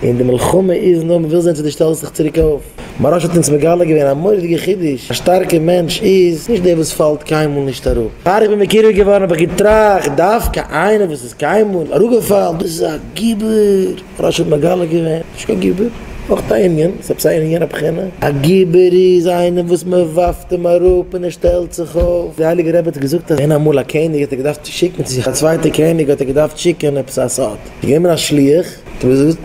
און די מלחמה איז נאר מ'וויל זען צו דו שטעלסט דיך צוריק אויף. מהרש האט אונז מגלה געווען א מורא'דיגע חידוש, א שטארקע מענטש איז נישט דער וואס פאלט קיינמאל נישט אראפ. פאר איך בין מקורב געווארן האב איך געטראכט, דווקא איינער וואס איז קיינמאל אראפגעפאלן דאס איז א גיבור! מהרש האט מגלה געווען, נישט קיין גיבור, נאך א ענין, ס'איז עפעס א ענין אין יענע בחינה, א גיבור איז איינער וואס מ'ווארפט אים אראפ און ער שטעלט זיך אויף. דער הייליגער רבי האט געזאגט אז ווען אמאל א קעניג האט ער געדארפט שיקן צו זיך א צווייטע קעניג האט ער געדארפט שיקן עפעס א סוד. גענומען א שליח, האט אים געזאגט,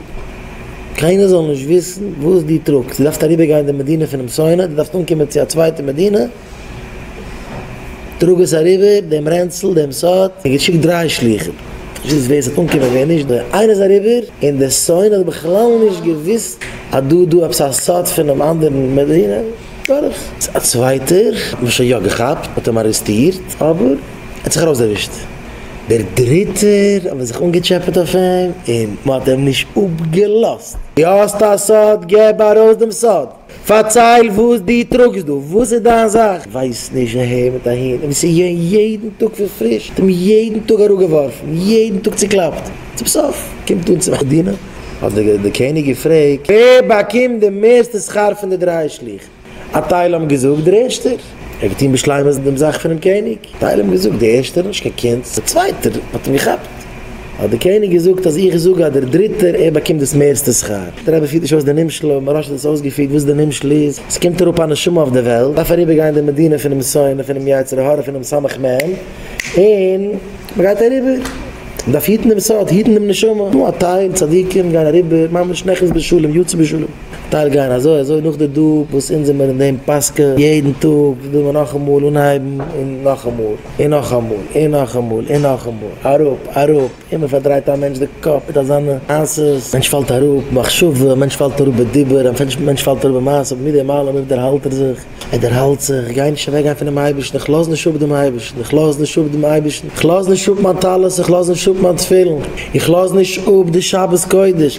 קיינער זאל נישט וויסן וואס דו טראגסט, דו דארפסט אריבער גיין די מדינה פונעם שונא, דו דארפסט אנקומען צו א צווייטע מדינה, טראג עס אריבער, דעם רענצל, דעם סוד, און געשיקט דריי שליחים, זיס ווער ס'וועט אנקומען ווער נישט, די איינער איז אריבער, און די שונא האט בכלל נישט געוויסט אז דא איז דא עפעס א סוד פונעם אנדערן מדינה, דורך. א צווייטער האט מען שוין יא געכאפט, מ'האט אים ארעסטירט, אבער ער האט זיך ארויסדערווישט. דער דריטער האט מען זיך אנגעטשעפעט אויף אים און מען האט אים נישט אפגעלאזט. דו האסט א סוד? געב ארויס דעם סוד! פארצייל וואס דו טראגסט דא! וואס איז דיין זאך? ווייסט נישט אהער מיט אהין, און וואס איז געווען יעדן טאג פון פריש, האט אים יעדן טאג אראפגעווארפן, יעדן טאג צוקלאפט, צום סוף קומט אן צום עדינא, האט דער קעניג געפרעגט, ווער באקומט די מערסטע שכר פון די דריי שליחים? א טייל האבן געזאגט דער ערשטער האט געטון בשלימות דעם זאך פונעם קעניג, א טייל האבן געזאגט דער ערשטער האט נישט קיין קינד, דער צווייטער האט אים געכאפט, האט דער קעניג געזאגט אז איך זאג אז דער דריטער ער באקומט דאס מערסטע שכר, דער רבי פירט נישט אויס די נמשל אבער מוהראש האט עס אויסגעפירט וואס די נמשל איז, עס קומט אראפ א נשמה אויף די וועלט, דארף אריבער גיין די מדינה פונעם שונא פונעם יצר הרע פונעם סמך מם און מען גייט אריבער, מען דארף היטן דעם סוד, היטן דעם נשמה, נו א טייל צדיקים גייען אריבער ממש נכנס בשלום יוצא בשלום. טייל גייען אזוי אזוי נאך די דו וואס אונז זעמער אין דעם פסקה יעדן טאג וויל מען נאכאמאל אנהייבן און נאכאמאל און נאכאמאל און נאכאמאל און נאכאמאל אראפ אראפ אימער פארדרייט א מענטש די קאפ מיט אזאנע מעשה'ס מענטש פאלט אראפ במחשבה מענטש פאלט אראפ בדיבור א מענטש פאלט אראפ במעשה אבער מיט דעם אלעם אויב דערהאלט ער זיך ער דערהאלט זיך איך גיי נישט אוועק גיין פונעם אייבערשטן איך לאז נישט אפ דעם אייבערשטן איך לאז נישט אפ דעם אייבערשטן איך לאז נישט אפ מיין טלית איך לאז נישט אפ מיין תפילין איך לאז נישט אפ די שבת קודש